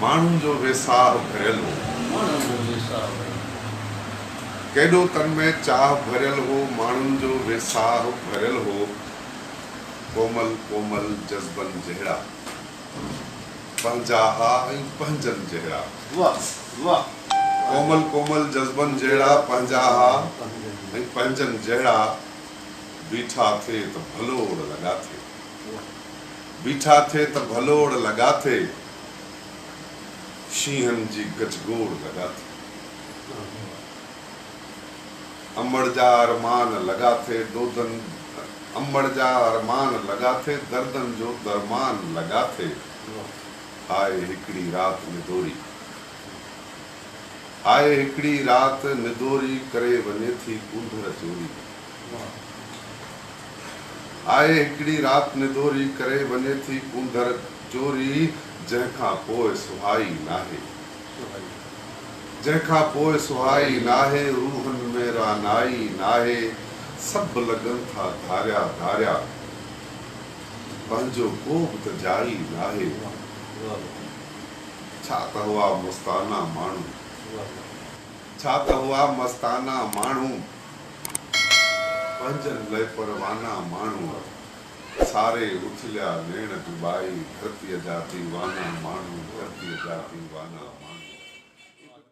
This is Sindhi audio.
ماڻهن جو ويساهه ڀريل هو. ڪيڏو تن ۾ چاهه ڀريل هو. ماڻهن جو ويساهه ڀريل هو. ڪومل ڪومل جذبن جهڙا. پنهنجا ها ۽ پنهنجن جهڙا. ڪومل ڪومل جذبن جهڙا. پنهنجا ها ۽ پنهنجن جهڙا. بيٺا ٿي ته ڀلوڙ لڳا ٿي. بيٺا ٿي ته ڀلوڙ لڳا ٿي، شينهن جي گجگوڙ لڳا ٿي. امڙ جا ارمان لڳا ٿي، دودن امڙ جا ارمان لڳا ٿي، دردن جو درمان لڳا ٿي. هاء هڪڙي رات ندوري، هاء هڪڙي رات ندوري، ڪري وڃي ٿي ڪونڌر چوري. آهي هڪڙي رات نڌوري ڪري وڃي ٿي ڪونڌر چوري جنهن کان پوء سهائي ناهي جنهن کان پوء سهائي ناهي روحن ۾ رعنائي ناهي سڀ لڳن ٿا ڌاريا ڌاريا پنهنجو ڪو به ته جائي ناهي ڇا ته هئا مستانه ماڻهو ڇا ته هئا مستانه ماڻهو. پنهنجن لئه پروانا ماڻهوء، ساري اٿليا نيڻ ڊٻائي، ڌرتيء جا ديوانا ماڻهو، ڌرتيء جا ديوانا ماڻهوء.